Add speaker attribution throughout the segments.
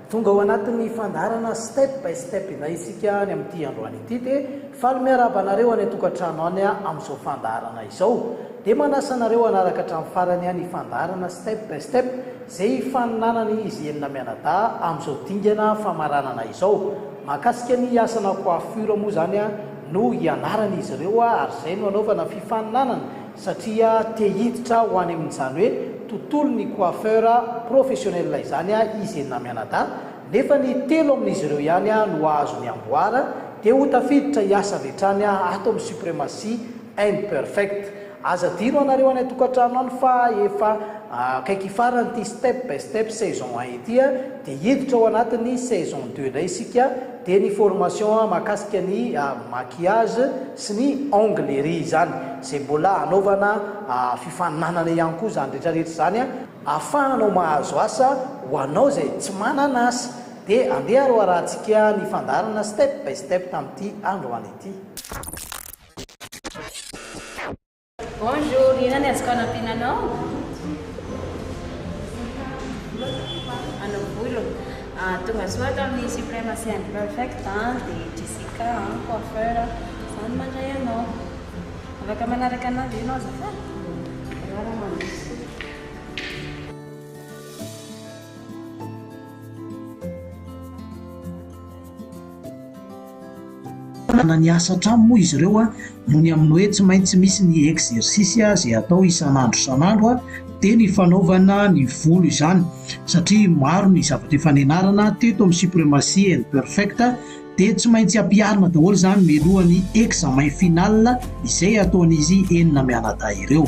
Speaker 1: Tonga ao anatin'ny fandaharana step by step indray isika any amin'ity androany ity dia faly miarahaba anareo any an-tokantrano any amin'izao fandaharana izao. Dia manasa anareo hanaraka hatramin'ny farany ny fandaharana step by step. izay ifaninanana izy enina mianadahy amin'izao dingana famaranana izao. Mahakasika ny asana coiffure moa izany no hianarana izy ireo ary izay no hanaovana fifaninanana satria te hiditra ho any amin'izany hoe tontolon'ny coiffeur professionnel izany izy enina mianadahy nefa ny telo amin'izy ireo ihany no hahazo ny amboara dia ho tafiditra hiasa avy hatrany ato amin'ny Supremacy Imperfect. Aza adino anareo any an-tokantrano any fa efa akaiky hifarana ity step by step saison un ity a, dia hiditra ao anatin'ny saison deux indray isika, dia ny formation mahakasika ny maquillage sy ny ongles ery izany, izay mbola hanaovana fifaninanana ihany koa izany rehetra rehetra izany a, ahafahanao mahazo asa ho anao izay tsy manana asa, dia andeha aroarahantsika ny fandaharana step by step tamin'ity androany ity.
Speaker 2: Bonjour, inona ny azoko anampiana anao? Anao volo. Ah, tonga soa ato amin'ny Supremacy and Perfect, ah, dia Jessica, ah, coiffeur, izany mandray anao. Afaka manaraka anà ve ianao azafady? Rarà mandroso.
Speaker 3: Manana ny asa an-trano moa izy ireo noho ny amin'ny hoe tsy maintsy misy ny exercice izay atao isan'andro isan'andro dia ny fanaovana ny volo izany satria maro ny zavatra efa nianarana teto amin'ny supremacy and perfect dia tsy maintsy ampiharina daholo izany mialohan'ny examen final izay ataon'izy enina mianadahy ireo.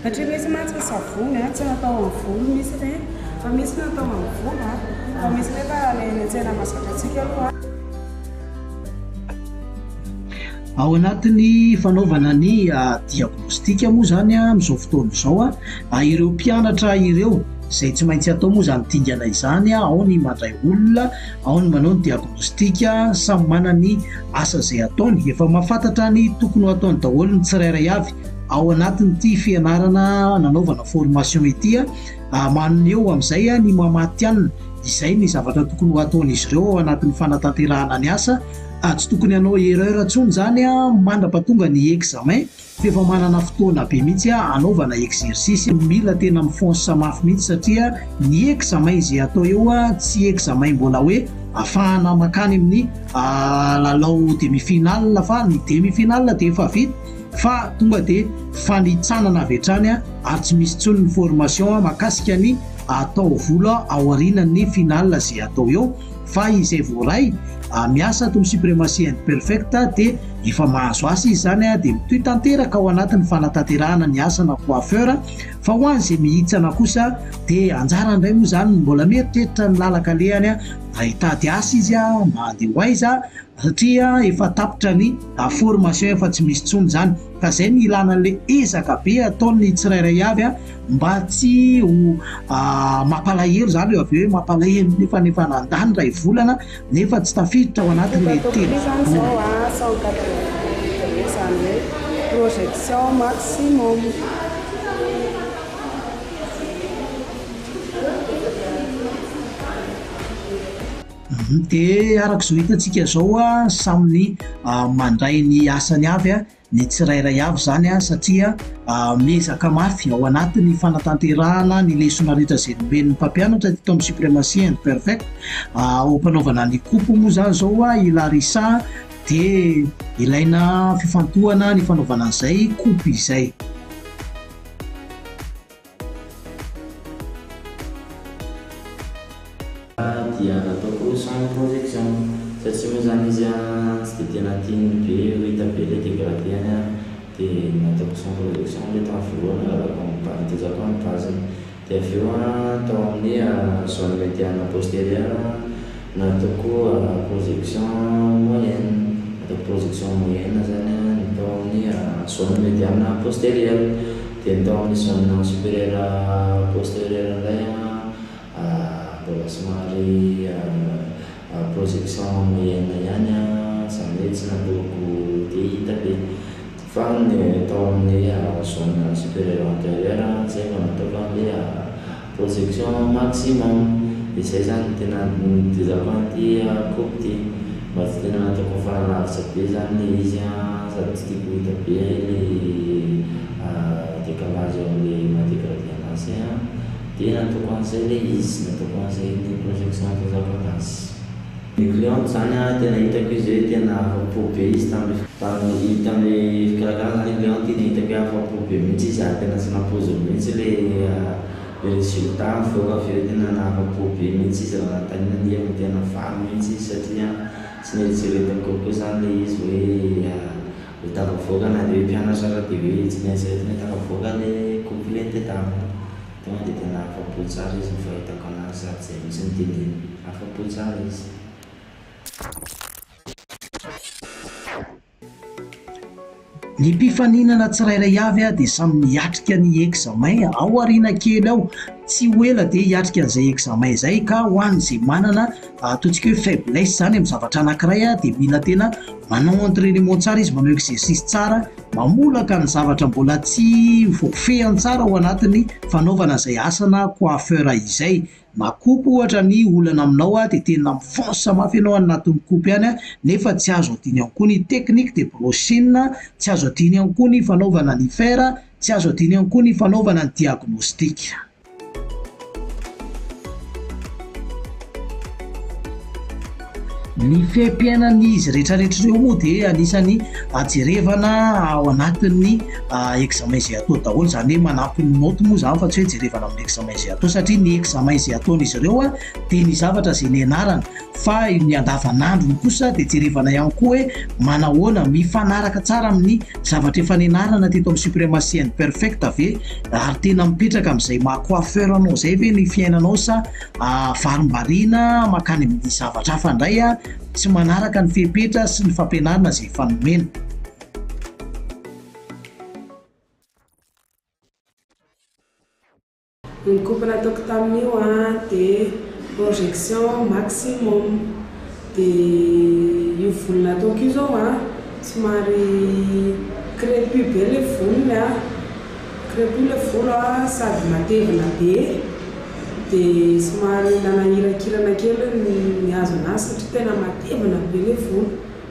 Speaker 4: Satria misy mantsy
Speaker 3: ny savony a, tsy natao ho an'ny volo misy ireny, fa misy natao ho an'ny volo a, fa misy nefa ilay eny an-tsena mahazakantsika aloha a. Ao anatin'ny fanaovana ny diagnostic moa izany amin'izao fotoana izao a, ireo mpianatra ireo izay tsy maintsy atao moa izany dingana izany a, ao ny mandray olona, ao ny manao ny diagnostic, samy manana ny asa izay ataony, efa mahafantatra ny tokony ho ataony daholo ny tsirairay avy. Ao anatin'ity fianarana nanaovana formation ity, maneho amin'izay ny maha matihanina izay ny zavatra tokony ho ataon'izy ireo ao anatin'ny fanatanterahana ny asa. Tsy tokony hanao erreur intsony izany mandrapa tonga ny examen fa efa manana fotoana be mihitsy hanaovana exercice. Mila tena mifonsa mafy mihitsy satria ny examen izay atao eo tsy examen mbola hoe afahana makany amin'ny lalao demi finale fa ny demi finale dia efa vita. fa tonga dia fanitsanana avy hatrany ary tsy misy intsony ny formation makasika ny atao vola ao arinan'ny final izay atao eo fa izay voaray miasa ato amin'ny supremacy and perfect dia efa mahazo asa izy izany dia mitohy tanteraka ao anatin'ny fanatanterahana ny asana coiffeur fa ho an' izay mihitsana kosa dia anjara indray moa izany mbola mieritreritra ny lalaka lehany raha hitady asa izy mba handeha ho aiza satria efa tapitra ny formation efa tsy misy intsony izany ka izay no ilana an'ilay ezaka be ataon'ny tsirairay avy mba tsy ho mampalahelo izany eo avy eo hoe mampalahelo nefa nefa nandany iray volana nefa tsy tafiditra ao anatin'ilay telo projection
Speaker 4: maximum.
Speaker 3: Dia araka izao hitantsika izao an, samy mandray ny asany avy ny tsirairay avy izany an, satria miezaka mafy ao anatin'ny fanatanterahana ny lesona rehetra izay nomen'ny mpampianatra teto amin'ny Supremacy and Perfect. Ao am-panaovana ny coop moa izany izao an, i Larissa dia ilaina fifantohana ny fanaovana an'izay coop izay.
Speaker 5: Raha dia nataoko sans protection fa tsy moa zany izy an tsy dia tena tiany be ho hita be le degradeny an dia nataoko sans protection le tamin'ny voalohany nangalako amin'ny base nitezako amin'ny base-ny dia avy eo an tao amin'ny zone mediane postérieure an Natao koa projection moyenne. Atao projection moyenne zany ny tao amin'ny zone mediane postérieure. Dia ny tao amin'ny zone supérieure postérieure indray mbola somary projection moyenne ihany izany hoe tsy nataoko dia hita be. Fa ny tao amin'ny zone supérieure antérieure izay vao nataoko an'ilay. Projection maximum de zay zany no tena nitezako an'ity coop ty mba tsy tena ataoko mifarana lavitra be zany le izy an sady tsy tiako ho hita be le décalage am le maha dégradé anazy an de nataoko an'izay le izy nataoko an'izay ny projection nitezako anazy. Ny client izany an, tena hitako izy hoe tena afa-po be izy tamin'ilay. Tamin'ilay tamin'ilay fikarakarana izany ilay client tena hitako hoe afa-po be mihitsy izy ary tena tsy nampoiziny mihitsy ilay ilay résultat nivoaka avy eo, tena nahafa-po be mihitsy izy raha nanontaniana dia efa tena faly mihitsy izy satria tsy neritreretiny koakoa izany ilay izy hoe ho tafavoaka na dia hoe mpianatra aza dia hoe tsy neritreretiny hoe tafavoaka ilay couple nitady aminy. Tonga dia tena afa-po
Speaker 3: tsara izy ny fahitako anazy sady izay mihitsy no teneniny. Afa-po tsara izy. Ny mpifaninana tsirairay avy dia samy miatrika ny examen ao aoriana kely ao. Tsy ho ela dia hiatrika an'izay examen izay ka ho an'izay manana ataontsika hoe faiblesse izany amin'ny zavatra anankiray dia mila tena manao entrainement tsara izy, manao exercice tsara. Mamolaka ny zavatra mbola tsy voafehiny tsara ao anatin'ny fanaovana izay asa na coiffeur izay. Na coupe ohatra ny olana aminao dia tena mifonce mafy ianao any anatin'ny coupe any nefa tsy azo adino ihany koa ny technique de brushing, tsy azo adino ihany koa ny fanaovana ny fer, tsy azo adino ihany koa ny fanaovana ny diagnostic. Ny fiaimpiainan'izy retraretra ireo moa dia anisan'ny ajerevana ao anatin'ny ah, examen izay atao daholo, izany hoe manampy ny note moa izany fa tsy hoe jerevana amin'ny examen izay atao satria ny examen izay ataon'izy ireo dia ny zavatra izay nianarana. Fa ny andavanandrony kosa dia jerevana ihany koa hoe manahoana, mifanaraka tsara amin'ny zavatra efa nianarana teto amin'ny Supremacy and Perfect ve ary tena mipetraka amin'izay maha coiffeur anao izay ve ny fiainanao sa varimbariana mankany amin'ny zavatra hafa indray, tsy manaraka ny fepetra sy ny fampianarana izay efa nomena.
Speaker 4: Ny coupe nataoko tamin'io an dia projection maximum, dia io volo nataoko io izao an somary crepue be ilay volony an, crepue ilay volo an sady matevina be, dia somary nanahirakirana kely ny hazo an'azy satria tena matevina be ilay volo.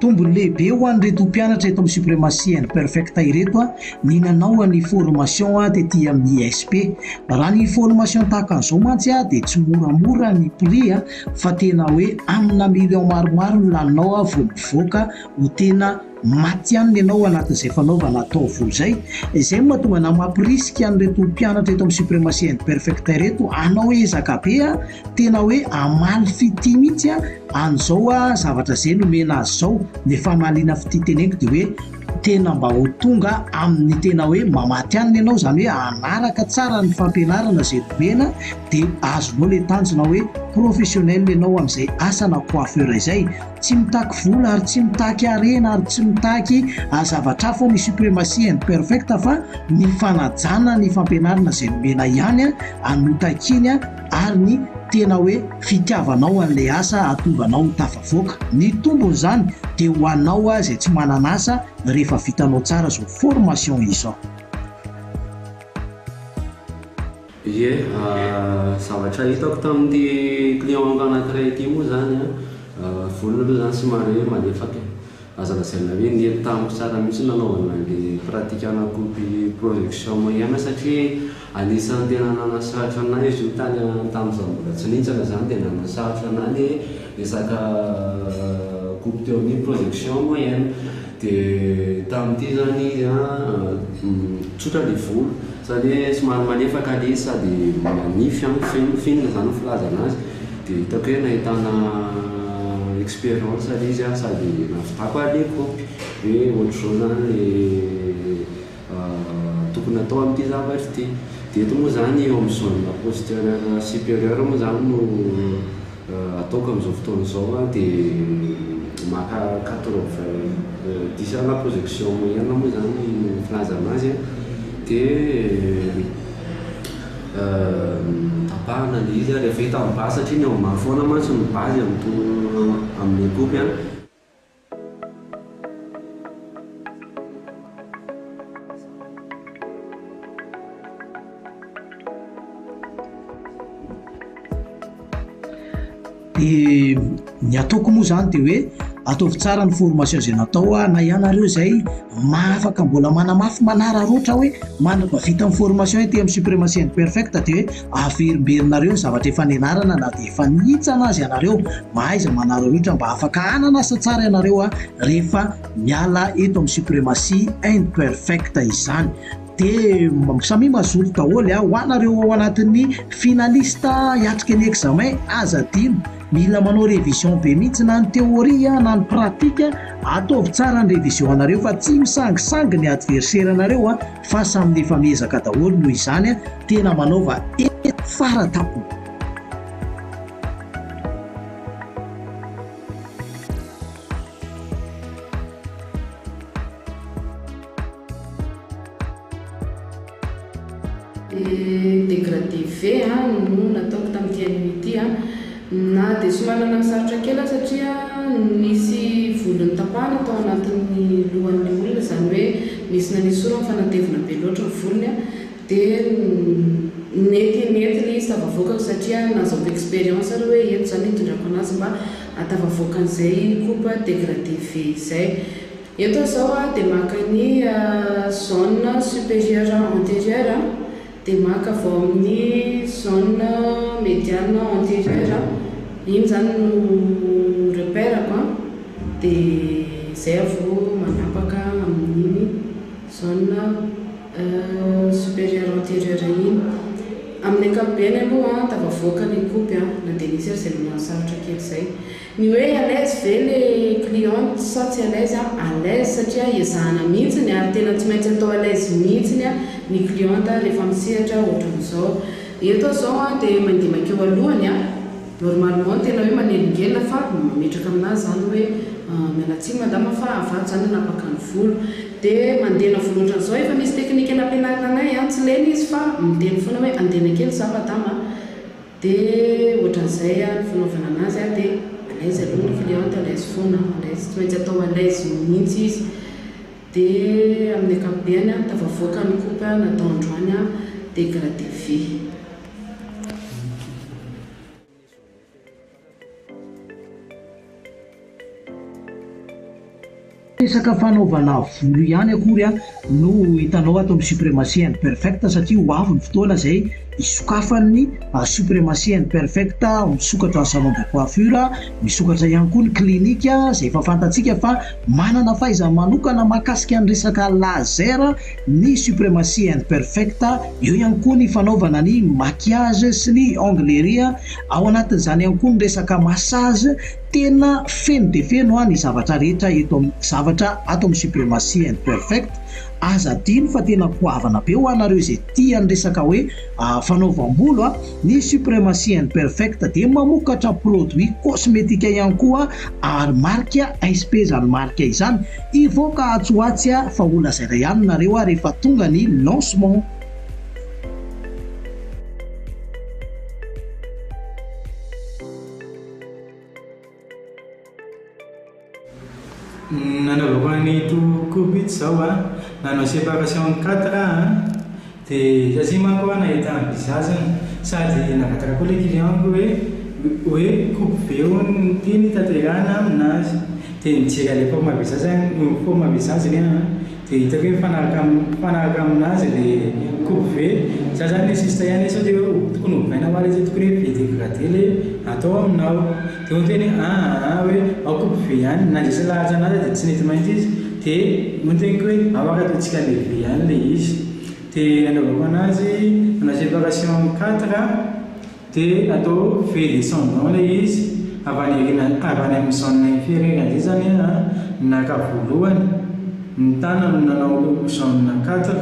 Speaker 3: Tombony lehibe ho an'ireto mpianatra eto amin'ny Supremacy and Perfecta ireto ny nanao ny formation tety amin'ny ISP. Raha ny formation tahaka an'izao mantsy dia tsy moramora ny prix fa tena hoe amina millions maromaro no laninao vao mivoaka ho tena matihanina ianao ao anatin'izay fanaovana ataovy izay, izay no mahatonga anà mampirisika an'ireto mpianatra eto amin'ny Supremacy and Perfecta ireto hanao ezaka be a, tena hoe hamaly fitia mihitsy a, an'izao a zavatra izay nomena azy izao, ny famaliana fitia teneniko dia hoe tena mba ho tonga amin'ny tena hoe mamatihanina ianao, izany hoe hanaraka tsara ny fampianarana izay nomena dia azonao ilay tanjona hoe professionnel ianao amin'izay asa na coiffeur izay, Tsy mitaky vola ary tsy mitaky harena ary tsy mitaky zavatra hafa ny supremacy and perfect fa ny fanajana ny fampianarana izay nomena ihany no takiany ary ny tena hoe fitiavanao an'ilay asa hahatonga anao ho tafavoaka. Ny tombon'izany dia ho anao izay tsy manana asa rehefa vitanao tsara izao formation izao. Ie,
Speaker 6: zavatra hitako tamin'ity client anankiray ity moa izany an, vola aloha izany somary hoe malefaka e, aza lazaina hoe nety tamiko tsara mihitsy ny nanaovana an'ilay pratique ana copy production moyenne satria anisan'ny tena nanasarotra an'ahy izy io tany tamin'izaho mbola tsy nihintsana izany dia nanasarotra an'ahy ilay resaka copy teo amin'ny production moyenne. Dia tamin'ity izany izy an, tsotra ny volo, izany hoe somary malefaka ilay izy sady manify an, feno fine izany ny filazana azy, dia hitako hoe nahitana expérience ilay izy an, sady nahavitako ary ilay kopy hoe ohatr'izao izany ilay. tokony atao amin'ity zavatra ity. Dia eto moa izany eo amin'ny zone la posture supérieure moa izany no ataoko amin'izao fotoana izao dia maka quatre vingt dix à la projection moyenne moa izany no filazana azy dia tapahana ilay izy ary avy eo hita amin'ny base satria ny ao ambany foana mantsy no base amin'itony amin'ny kopy an.
Speaker 3: dia ny ataoko moa zany de hoe ataovy tsara ny formation zay natao a na ianareo zay maafaka mbola manamafy manararoatra hoe manana vita ny formation ety am supremacy and perfect de hoe Averimberinareo ny zavatra efa nianarana na dia efa nihintsana aza ianareo. Mahaiza manarohirotra mba afaka hanana asa tsara ianareo a! rehefa miala eto amin'ny supremacy imperfect izany. Dia samia mazoto daholo a! Ho anareo ao anatin'ny finaliste hiatrika ny examen, aza adino, mila manao révision be mihitsy na ny théorie na ny pratique. Ataovy tsara ny révision anareo fa tsy misangisangy ny adversaire anareo a! Fa samy efa miezaka daholo noho izany tena manaova eny fara tampony.
Speaker 4: Degradé ve no nataoko tamin'ity anime ity? Na dia somary nananosarotra kely aho satria nisy volo notapahana tao anatin'ny lohan'ilay olona, izany hoe nisy nanesoro ny fanatevina be loatra ny volony, dia nety nety ilay izy tafavoakako satria nahazoako expérience aloha hoe eto izany hitondrako an'azy mba hatafavoakan'izay coupe dégradée ve izay. Eto aho izao dia maka ny zone supérieure antérieure. Dia maka avy ao amin'ny zone mediane anterieur aho, iny izany no repère-ko an, dia izay aho vao manapaka amin'iny zone supérieur anterieur iny. Amin'ny ankapobeny aloha an, tafavoaka ny kopy an, na dia nisy aza izay mahasarotra kely izay. Ny hoe à l'aise ve le cliente sa tsy à l'aise a? À l'aise satria ezahana mihitsiny ary tena tsy maintsy atao à l'aise mihitsiny a ny cliente rehefa misehatra ohatran'izao. Eto aho izao a dia mandimaika eo alohany a, normalement tena hoe manelingelina fa mametraka aminà izany hoe miala tsiny madama fa avadika izany hanapaka ny volo. Dia mandena volo ohatran'izao, efa misy teknika nampianarina anay a, tsy lena izy fa miteny foana hoe andena kely izaho madama a, Dia ohatran'izay ary ny fanaovana anazy a, dia à l'aise aloha ny cliente, à l'aise foana, à l'aise, tsy maintsy atao à l'aise mihitsy izy. Dia amin'ny ankapobeny a, tafavoaka ny coupe natao androany a, dégradé vy.
Speaker 3: Resaka fanaovana volo ihany akory no hitanao ato amin'ny Supremacy and Perfect satria ho avy ny fotoana izay hisokafan'ny Supremacy and Perfect, misokatra ny salon de coiffure, misokatra ihany koa ny clinique izay efa fantatsika fa manana fahaizana manokana mahakasika ny resaka laser ny Supremacy and Perfect, eo ihany koa ny fanaovana ny maquillage sy ny onglerie. Ao anatin'izany ihany koa ny resaka massage, tena feno dia feno an ny zavatra rehetra eto am zavatra ato amin'ny supremacy and perfect, aza adino fa tena goavana be ho anareo izay tia ny resaka hoe fanaovam-bolo an, ny supremacy and perfect dia mamokatra produit cosmetique ihany koa ary marika insp izany marika izany, hivoaka atsy ho atsy an fa ho lazaina ihany nareo an rehefa tonga ny lancement.
Speaker 7: Nanaovako an'i Tohokoby ito izao an, nanao séparation quatre aho an, dia satria manko aho nahita envisage-ny sady nangataka koa ilay client-ko hoe hoe koby be hono no tiany taterahina aminazy, dia nijery an'ilay forme envisage-ny forme envisage-ny aho an. Dia hitako hoe mifanaraka mifanaraka amin'azy ilay coupe vert. Za zany le sista ihany sao dia hoe tokony ovaina hoa le zay tokony hoe be degradé le atao aminao. Dia hoy ny teniko hoe aa aa hoe ao coupe vert ihany. Nandresy lahatra an'ahy za dia tsy nety maintsy izy dia hoy ny teniko hoe ao ary ataontsika le vert ihany le izy. Dia nanaovako an'azy, nanao séparation quatre De atao vue descendant le izy avy any aoriana avy any amin'ny zone inferieur indray zany a, naka voalohany ny tana no nanao zone quatre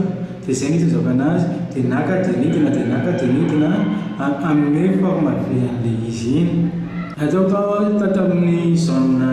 Speaker 7: de zay no itonjako anazy de naka de nidina de naka de nidina a hanome forme vue an'le izy iny. Ataoko tao a tao tamin'ny zone.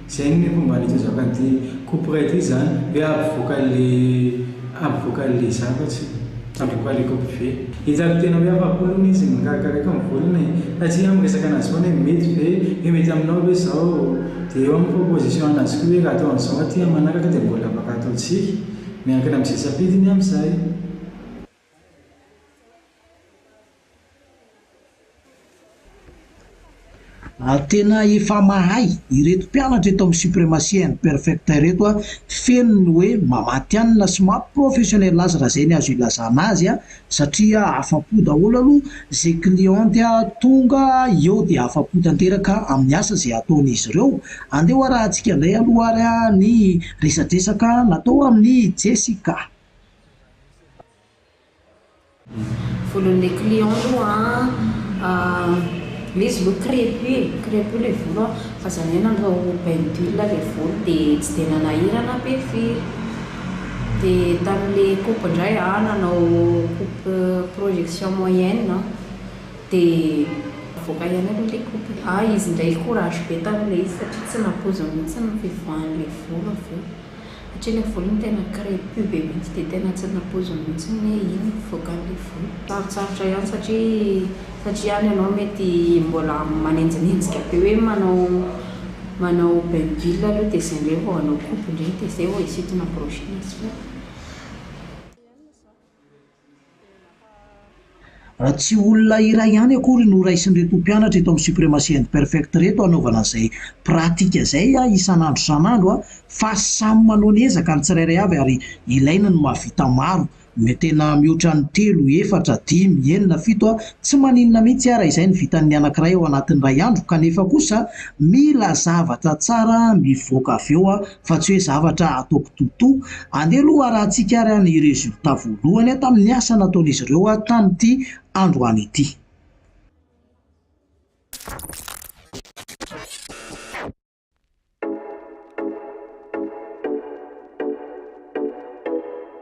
Speaker 7: Zay ny momba an'ity zakan'ity kopra ity zany hoe ampivoaka le ampivoaka le zavatry ampivoaka le kopra ve? Hitako tena hoe afapo aloha izy mikarakaraika ny volony e! Fa tsy hoe miresaka anazy foana hoe mety ve? Hoe mety aminao ve zao? Dia eo amin'ny proposition anazy koa hoe raha atao an'izao aty amin'ny manaraka dia mbola afaka ataontsika, miankina am'zay safidiny am'zay.
Speaker 3: Ary tena efa mahay ireto mpianatra eto amin'ny Supremacia and Perfecta ireto a, feno ny hoe mamatianina sy maha professionnel azy raha izay ny azo ilazana azy a, satria afa-po daholo aloha izay cliente tonga eo dia afa-po tanteraka amin'ny asa izay ataon'izy ireo, andeha ho arahantsika indray aloha ary ny resadresaka natao amin'i Jessica.
Speaker 2: Volon'ilay client aloha an, ilay izy aloha crepue e, crepue ilay volo an, fa za indray nandao bain d'huile ilay volo dia tsy dia nanahirana be firy, dia tamin'ilay coupe indray an, nanao coupe projection moyenne aho, dia navoaka ihany aloha ilay coupe, ah izy indray courage be tamin'ilay izy satria tsy nampoiziny mihintsy ny fivoahan'ilay volo avy eo. Satria ilay volo iny tena crepue be mihitsy dia tena tsy nampoiziny mihitsy ny hoe iny no vokarin'ilay volo. Sarotsarotra ihany satria satria any ianao mety mbola manenjinenjika be hoe manao manao bain d'huile aloha dia izay indray vao hanao coupe indray dia izay vao hisintona brochine sy hoe.
Speaker 3: Raha tsy olona iray ihany akory no raisin'ireto mpianatra eto amin'ny Supremacy and Perfect ireto hanaovana izay pratika izay isan'andro isan'andro fa samy manao ny ezaka ny tsirairay avy ary ilaina ny mahavita maro, tena mihoatra ny telo, efatra, dimy, enina, fito, tsy maninona mihitsy raha izay no vitan'ny anankiray ao anatin'ny iray andro kanefa kosa mila zavatra tsara mivoaka avy eo. fa tsy hoe zavatra ataoko totoa. Andeha aloha harahantsika ary ny résultat voalohany tamin'ny asa nataon'izy ireo tamin'ity androany ity.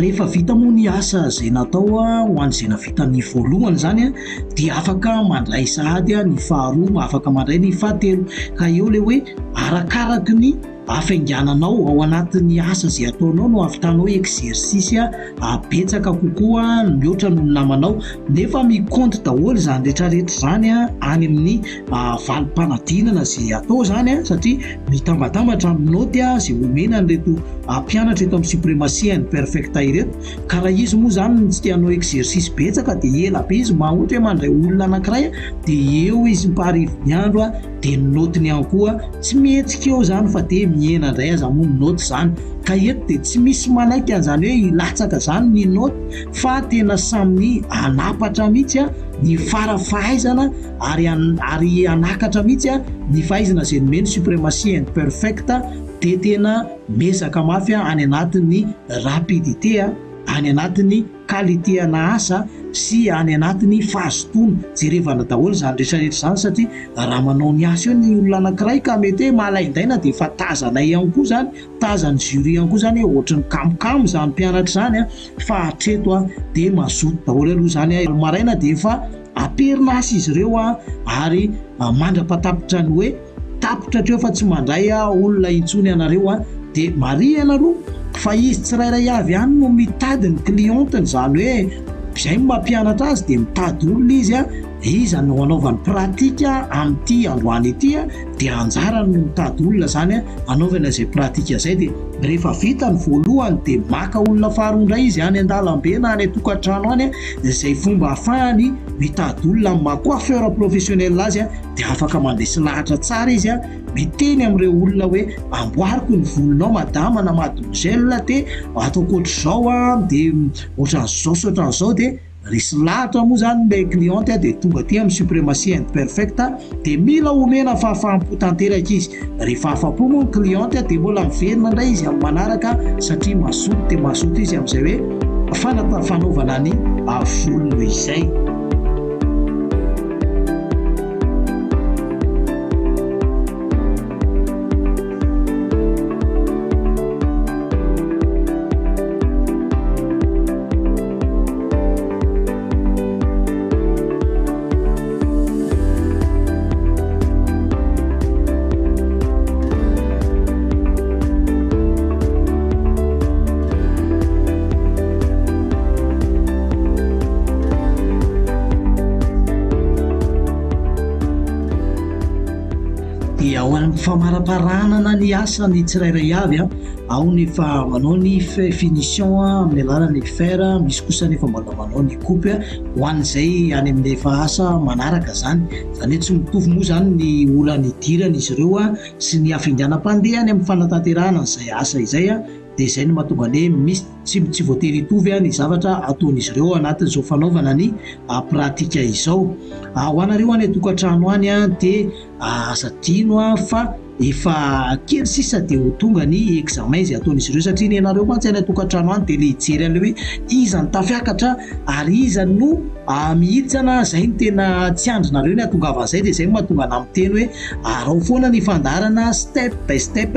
Speaker 3: Rehefa vita moa ny asa izay natao ho an'izay nahavita ny voalohany izany dia afaka mandray sahady ny faharoa, afaka mandray ny fahatelo ka eo ilay hoe arakaraky ny hafaingananao ao anatin'ny asa izay ataonao no hahavitanao exercice betsaka kokoa mihoatra noho ny namanao nefa mi-compte daholo izany rehetra rehetra izany any amin'ny valim-panadinana izay atao izany an, satria mitambatambatra amin'ny naoty izay omena an'ireto mpianatra eto amin'ny supremacy and perfecta ireto, ka raha izy moa izany no tsy te hanao exercice betsaka dia ela be izy, mba ohatra hoe mandray olona anankiray dia eo izy am-paharivony andro dia ny naotiny ihany koa tsy mihetsika eo izany fa dia mihena indray aza moa ny naoty izany, ka eto dia tsy misy manaiky an'izany hoe hilatsaka izany ny naoty fa tena samy hanapatra mihitsy ny fara fahaizana. ary ary hanakatra mihitsy a ny fahaizana izay nomeny supremacy and perfect dia tena miezaka mafy a any anatin'ny rapidité a any anatin'ny qualité ana asa sy any anatin'ny fahazotoana jerevana daholo izany rehetra rehetra izany satria raha manao ny asa eo ny olona anankiray ka mety hoe malaindaina dia efa tazanay ihany koa izany tazan'ny jury ihany koa izany hoe ohatry ny kamokamo izany mpianatra izany a fa hatreto a dia mazoto daholo aloha izany a maraina dia efa Am-perinasa izy ireo ary mandra-patapitra ny hoe tapitra hatreo fa tsy mandray olona intsony ianareo dia marihana aloha fa izy tsirairay avy ihany no mitady ny clientny izany hoe izay no mampianatra azy dia mitady olona izy iza no hanaovany pratique amin'ity androany ity dia anjarany no mitady olona izany hanaovana izay pratique izay dia rehefa vita ny voalohany dia maka olona faharoa indray izy any an-dalambe na any an-tokantrano any izay fomba ahafahany mitady olona amin'ny maha coiffeur professionnel azy dia afaka mandresy lahatra tsara izy a, miteny amin'ireo olona hoe amboariko ny volonao madama na mademoiselle dia ataoko ohatr'izao a, dia ohatran'izao sy ohatran'izao dia resy lahatra moa izany ilay cliente dia tonga aty amin'ny supremacy imperfect. dia mila omena fahafaham-po tanteraka izy, rehefa afa-po moa ny cliente dia mbola miverina indray izy amin'ny manaraka satria mazoto dia mazoto izy amin'izay hoe fanata- fanaovana ny volo noho izay. dia ao amin'ny famaraparanana ny asa ny tsirairay avy a ao ny fa manao ny finition amin'ny alalan'ny fer misy kosa ny fa mbola manao ny groupe ho an'izay any amin'ny efa asa manaraka izany. Izany hoe tsy mitovy moa izany ny ora nidiran'izy ireo sy ny hafainganam-pandeha any amin'ny fanatanterahana an'izay asa izay, dia izay no mahatonga ny hoe misy tsy voatery hitovy ny zavatra ataon'izy ireo ao anatin'izao fanaovana ny pratika izao. Ho anareo any an-tokantrano any dia. Aza adino an fa efa kely sisa dia ho tonga ny examen izay ataon'izy ireo satria ny anareo mantsy any an-tokantrano any dia ilay hijery an'ilay hoe iza no tafiakatra ary iza no mihitsana, izay no tena tsy andrinareo ny hatongavan'izay dia izay no mahatonga anà miteny hoe arao foana ny fandaharana step by step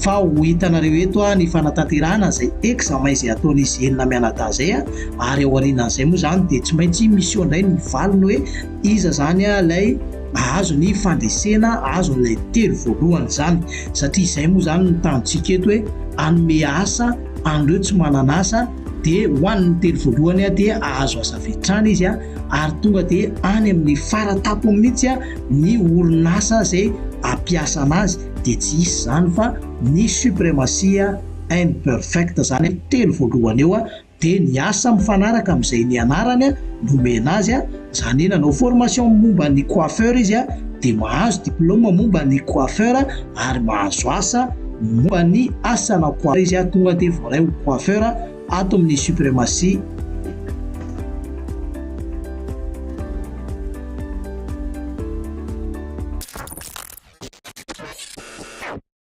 Speaker 3: fa ho hitanareo eto ny fanatanterahana izay examen izay ataon'izy enina mianadahy izay ary ao aorianan'izay moa izany dia tsy maintsy miseho indray ny valiny hoe Iza izany ilay hahazo ny fandresena azon'ilay telo voalohany izany? Satria izay moa izany no tanjontsika eto hoe hanome asa an'ireo tsy manana asa dia ho an'ny telo voalohany dia hahazo asa avy hatrany izy ary tonga dia any amin'ny faratapony mihitsy ny orinasa izay hampiasa anazy dia tsy hisy izany fa ny supremacia imperfecta izany telo voalohany eo dia niasa mifanaraka amin'izay nianarany nomena azy, izany hoe nanao formation momba ny coiffeur izy dia mahazo diplôme momba ny coiffeur ary mahazo asa momba ny asana coiffeur izy, tonga dia voaray ho coiffeur ato amin'ny Supremacy.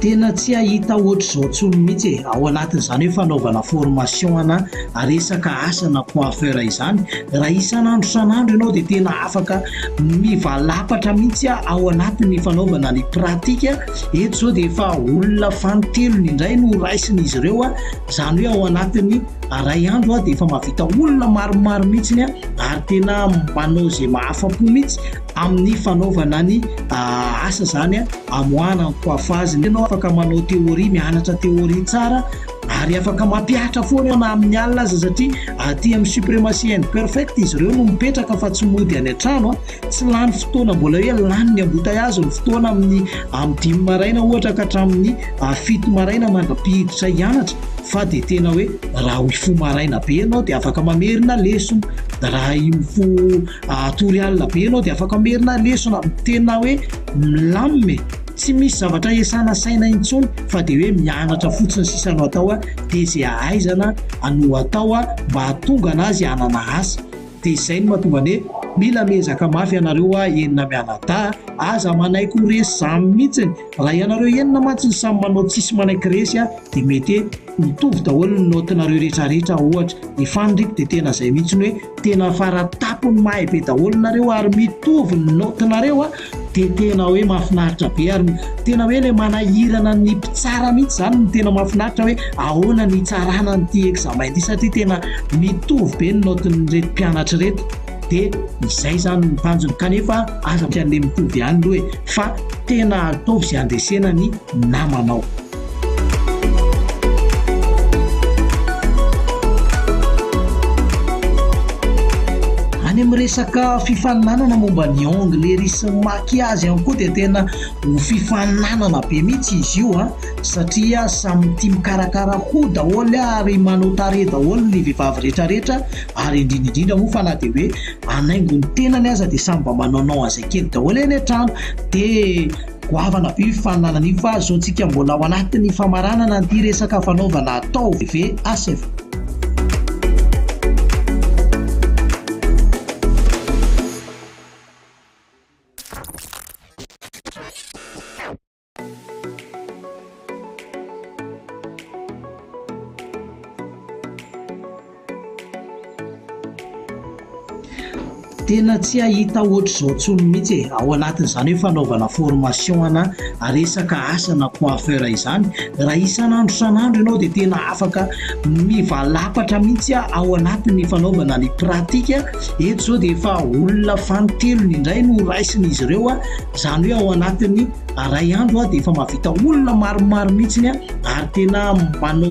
Speaker 3: Tena tsy hahita ohatr'izao tsony mihitsy e! Ao anatin'izany hoe fanaovana formation ana resaka asa na coiffeur izany, raha isan'andro isan'andro ianao dia tena afaka mivalapatra mihitsy ao anatin'ny fanaovana ny pratique. Eto izao dia efa olona fanintelony indray no raisin'izy ireo, izany hoe ao anatin'ny iray andro dia efa mahavita olona maromaro mihitsy ary tena manao izay mahafa-po mihitsy. amin'ny fanaovana ny asa izany amoahana ny coiffage. Ianao afaka manao théorie, mianatra théorie tsara ary afaka mampihatra foana na amin'ny alina aza satria aty amin'ny supremacy and perfect izy ireo no mipetraka fa tsy mody any an-trano, tsy lany fotoana mbola hoe lany ny embouteillage ny fotoana amin'ny amin'ny dimy maraina ohatra ka hatramin'ny fito maraina mandra-pihiditra hianatra fa dia tena hoe raha mifoha maraina be ianao dia afaka mamerina lesona, raha mifoha Hatory alina be ianao dia afaka merina lesona amin'ny tena hoe milamina e! Tsy misy zavatra hiasana saina intsony fa dia hoe mianatra fotsiny sisa no atao a! Dia izay ahaizana no atao a! Mba hahatonga an'azy hanana asa. Dia izay no mahatonga ny hoe mila miezaka mafy ianareo a! Enina mianadahy a! Aza manaiky ho resy izany mihitsiny. Raha ianareo enina mantsy no samy manao tsisy manaiky resy a dia mete ho tovy daholo ny note nareo retraretra ohatra ny fanriko dia tena zay mihitsy ny hoe tena faratapony mahay be daholo nareo ary mitovy ny note nareo a dia tena hoe mafinaritra be ary tena hoe le manahirana ny mpitsara mihitsy zany ny tena mafinaritra hoe ahoana ny itsarana ny ty examen ty satria tena mitovy be ny note ny reto mpianatry reto dia izay izany ny tanjony kanefa aza tsy handeha mitovy ihany aloha e fa tena ataovy izay handresena ny namanao any amin'ny resaka fifaninanana momba ny angle rysy maky azy any koa dia tena ho fifaninanana be mihitsy izy io a ah. satria samytia mikarakara ho daholo ary manao tare daholo ny vehivavy rehetrarehetra ary indrindra indrindra moa fa na dia hoe hanaingo ny tenany aza dia samy mba manaonao an'izay kely daholo eny an-trano dia goavana be io fifaninanana io fa izao antsika mbola ao anatin'ny famaranana an'ity resaka fanaovana atao VHF. Tena tsy hahita ohatr'izao intsony mihitsy e, ao anatin'izany hoe fanaovana formation ana resaka asa na coiffeur izany, raha isan'andro isan'andro ianao dia tena afaka mivalapatra mihitsy ao anatin'ny fanaovana ny pratique. Eto izao dia efa olona fanintelony indray no raisin'izy ireo, izany hoe ao anatin'ny iray andro dia efa mahavita olona maromaro mihitsy ny ary tena manao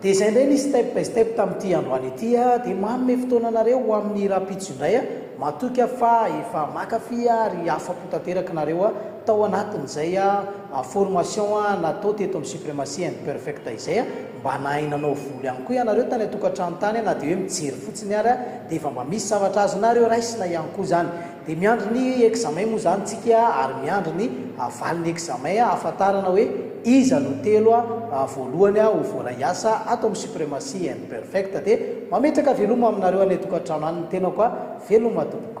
Speaker 3: Dia izay indray ny step by step tamin'ity androany ity aho dia manome fotoana anareo ho amin'ny rahampitso indray aho, matoky aho fa efa makafy ary afa-po tanteraka nareo aho tao anatin'izay formation natao teto amin'ny Supremacy and Perfect izay mba nahay nanao volo ihany koa ianareo tany an-tokantrano tany na dia hoe mijery fotsiny ary dia efa mba misy zavatra azonareo raisina ihany koa izany. Dia
Speaker 1: miandry ny examen moa izany tsika ary miandry ny valin'ny examen ahafantarana hoe iza no telo voalohany ho voaray hiasa ato amin'ny Supremacy and Perfect dia mametraka veloma aminareo any an-tokantrano any ny tenako a! Veloma tompoko.